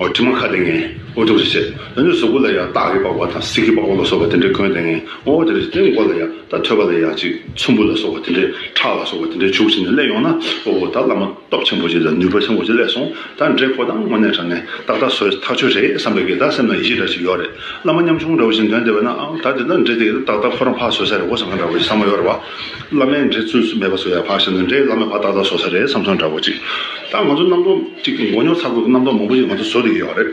ཨོ་དྲི་མ་ཁ་དེ་ངས་ཨོ་ཐུག་རེ་བྱེད་འོན་ཏེ་ཟུག་པོ་ལ་ཡང་སྟག་གི་པགས་པ་དང་སྲིག་གི་པགས་པ་ལ་སོགས་པ་དེ་འདྲས་གོན་ཏེ་ངས་ཨོ་དེ་རེ་བྱེད་དེ་མགོ་ལ་ཡང་དག་ཐོད་པ་ལ་ཡང་ཅིག་ཚོམ་བུ་ལ་སོགས་པ་དེ་འདྲས་ཁྲག་ལ་སོགས་པ་དེ་འདྲས་བྱུག་བྱས་ནས་བསླད་ཡོང་ན་ཨོ་ཨོ་ད་བླ་མ་སྟོབས་ཆེན་པོ་ཅིག་དང་ནུས་པ་ཆེན་པོ་ཅིག་བསླད་སོང་ད་འདྲས་ཁོ་དང་དངོས་གནས་དྲ་ངས་ཏག་ཏག་སོས་ཐག་ཆོད་རེད་བསམ་པའི་གི་ད་སེམས་ན་ཡིད་ཆེས་འདྲ་ཞིག་ཡོད་རེད་བླ་མ་ཉམ་ཆུང་འདྲ་བོ་ཞིག་འདོན་བསྡད་པ་ན་ཨང་ད་དེ་ད་འདྲས་དེ་གི་ད་ཏག་ཏག་ཁོ་རང་ཕ་སོས་ས་རེད་འོ་ཟེར་ང་འདྲ་བོ་ཞིག་ས་མ་ཡོ་རེད་བ། བླ་མའི་འགྲེལ་ཚུལ་སུ་མེད་པ་སུ་ཡང་བག་ཞན་ནས་འདྲེ་བླ་མའི་བ་ཏག་ཏག་བཟོ་ས་རེད་བསམ་ཚོད་འདྲ་བོ་ཅིག་ད་ང་ཚོ་རྣམ་རྟོག་ཅིག་གི་མགོ་ཉོག་ཚ་དགོས་ཀི་རྣམ་རྟོག་མང་པོ་ཞིག་ང་ཚོ་བཟོ་རེ་ཡོད་རེད་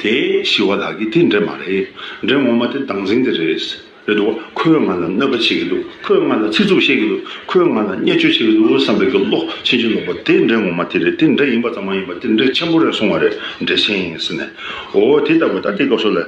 དེ་ཞི་བ་ལགས་ཀྱི་དེ་འདྲེ་མ་རེད་འདྲེ་ངོ་མ་དེ་སྡང་ཟིང་དེ་རེད་རེད་འདུག་ཁོས་ང་ལ་གནོད་པ་བྱེད་ཀྱི་འདུག་ཁོས་ང་ལ་ཚིག་རྩུབ་བཤད་ཀྱི་འདུག་ཁོས་ང་ལ་བརྙས་བཅོས་བྱེད་ཀྱི་འདུག་བསམ་པའི་དགེ་བློ་ཆེན་ཆེན་ལོག་པ་དེ་འདྲེ་ངོ་མ་དེ་རེད་དེ་འདྲེ་ཡིན་པ་ཙམ་མ་ཡིན་པར་དེ་འདྲེ་ཆེན་པོ་རེད་གསུང་བ་རེད་འདྲེ་ཆེན་ཟེར་ནས་འོ་དེ་ལྟ་བུ་ད་ལྟའི་སྐབས་སུ་ལས་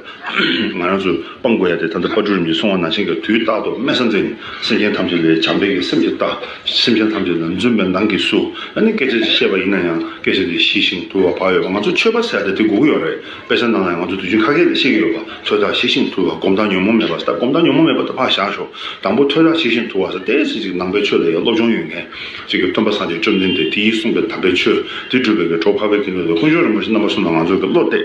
ང་རང་ཚོས། སྤང་དགོས་ཡ་དེ་ད་ལྟ་པར་གྲུ་རིམ་གྱིས་སོང་བ་ན་ཤིང་གི་དུས་རྟག་ཏུ་དམེ་ས་འཛིན། སེམས་ཅན་ཐམས་ཅད་ལས་བྱམས་པའི་གི་སེམས་ཀྱིས་བལྟ། སེམས་ཅན་ཐམས་ཅད་ལ་འཛུམ་པའི་མདངས་ཀྱིས་བསུ། ཨ་ནི་སྐད་ཆ་ཅིག་བཤད་པ་ཡིན་ན་ཡང་སྐད་ཆ་དེ་ཤི་ཞིང་དུལ་བ་བག་ཡོད་པ་ང་ཚོ་ཆོས་པ་ཟེར་ད་དེ་སྒུག་གི་ཡོད་རེད་དཔེ་ཆ་ནང་ལ་ཡང་ང་ཚོ་དུས་རྒྱུན་ཁ་སྐད་ལས་བཤད་ཀྱི་ཡོད་པ་ཐོས་དག་ཤི་ཞིང་དུལ་བ་སྒོམ་དག་ཉོན་མོངས་མེད་པ་ཟེར་ད་སྒོམ་དག་ཉོན་མོངས་མེད་པ་ད་ཕར་བཞག་ཞོག་དང་པོ་ཐོས་དག་ཤི་ཞིང་དུལ་བ་ཟེར་དེ་སྲིད་ཅིག་ནང་པའི་ཆོས་ལ་ཡང་སློབ་སྦྱོང་ཡོད་མཁན་ཅིག་གིས་སྟོན་པ་སངས་རྒྱས་བཅོམ་ལྡན་འདས་དེ་ཡིས་གསུངས་པའི་དམ་པའི་ཆོས་དེ་སྒྲུབ་པའི་གི་གྲོགས་འཕགས་པའི་གི་ནུས་ལ་དཀོན་མཆོག་རིན་པོ་ཆེ་རྣམ་པ་གསུམ་ལ་ང་ཚོའི་གི་བློ་གཏད།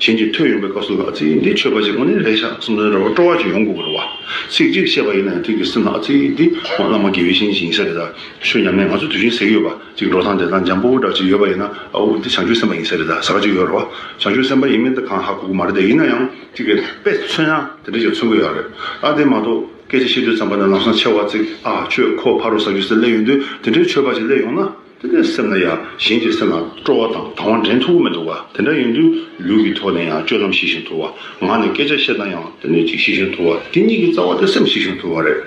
གཞན་གྱིས་ཐོས་ཡོང་པའི་སྐབས་སུ་ལ་ཚིག་འདི་ཆོས་པ་ཞེས་གོ་ནས་རེ་ཞག་གསུམ་རེ་རེ་བར་སྤྲོ་བ་བྱོན་ཡོང་དགོས་པར་བ། ཚིག་གཅིག་བཤད་པ་ཡིན་ན་ཡང་ཐེངས་གཅིག་སེམས་ལ་ཨ་ཚིག་འདི་ཧོན་བླ་མ་དགེ་བའི་བཤེས་གཉེན་ཞིག་ཡིན་ས་རེད་ད་ཆོས་ཉམས་ལེན་ང་ཚོ་དུས་ཆེན་ཟེགས་ཡོད་པ་ཅིག་འགྲོ་སྟངས་བསྡད་སྟངས་འཇམ་པོ་པོ་འདྲ་ཅིག་ཡོད་པ་ཡིན་ན་ཨ་འུ་འདི་བྱང་ཆུབ་སེམས་པ་ཡིན་ས་རེད་ད་ཟ་ཁ་ཅིག་ཡོད་རེད་བ། བྱང་ཆུབ་སེམས་པ་ཡིན་མིན་འདི་གང་ཧ་གོ་གོ་མ་རེད་ད་ཡིན་ན་ཡང་ཅིག་རེད་དཔེ་མཚོན་ཡང་དེ་འདྲ་ཅིག་མཚོན་དགོས་ཡག་རེད་ད་དེ་མ་གཏོགས་སྐད་ཆ་བཤད་དུས་ཚངས་པ་ནས་ལམ་སང་ཆེ་བ་ཚིག་ཨ་ཆོས་ཁོ་ཕ་རོ་ཟ་རྒྱུ་སེ་སླེ་ཡོང་དུས་དེ་འདྲའི་ཆོས་པ་ཞིག་སླེ་ཡོང་ན། སེམས་ལ་ཡང་གཞན་གྱི་སེམས་ལ་སྤྲོ་བ་དང་དང་བ་འདྲེན་ཐུབ་ཀྱི་མི་འདུག་ག་དེ་འདྲ་ཡིན་དུས་ལུས་ཀྱི་ཐོག་ནས་ཡང་སྤྱོད་ལམ་ཞི་ཞིང་དུལ་བ། ངག་ནས་སྐད་ཆ་བཤད་ན་ཡང་དེ་ནས་ཅིག་ཞི་ཞིང་དུལ་བ་དེ་གཉིས་ཀྱི་རྩ་བ་དེ་སེམས་ཞི་ཞིང་དུལ་བ་རེད།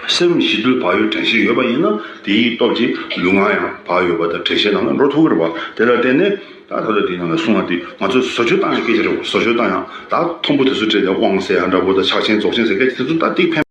སེམས་ཞི་དུལ་བག་ཡོད་དྲན་ཤེས་ཡོད་པ་ཡིན་ན་དེའི་སྟོབས་ཀྱིས་ལུས་ངག་ཡང་བག་ཡོད་པ་དང་དྲན་ཤེས་ནང་ལ་འགྲོ་ཐུབ་ཀྱི་རེད་བ་དེ་ལ་བརྟེན་ནས་ད་ད་ལོ་དེའི་ནང་ལ་གསུང་བ་འདི་ང་ཚོས་བཟོ་བཅོས་བཏང་ཡང་སྐད་ཆ་རེད་བ་བཟོ་བཅོས་བཏང་ཡང་ད་ཐོམ་པོ་དེ་ཚོ་སྤྲད་དེ་དབང་ཟེར་ཡ་འདྲ་བོ་དང་ཕྱག་ཆེན་རྫོགས་ཆེན་ཟེར་སྐད་ཆ་དེ་ཚོ་ད་ཏིག་ཕན།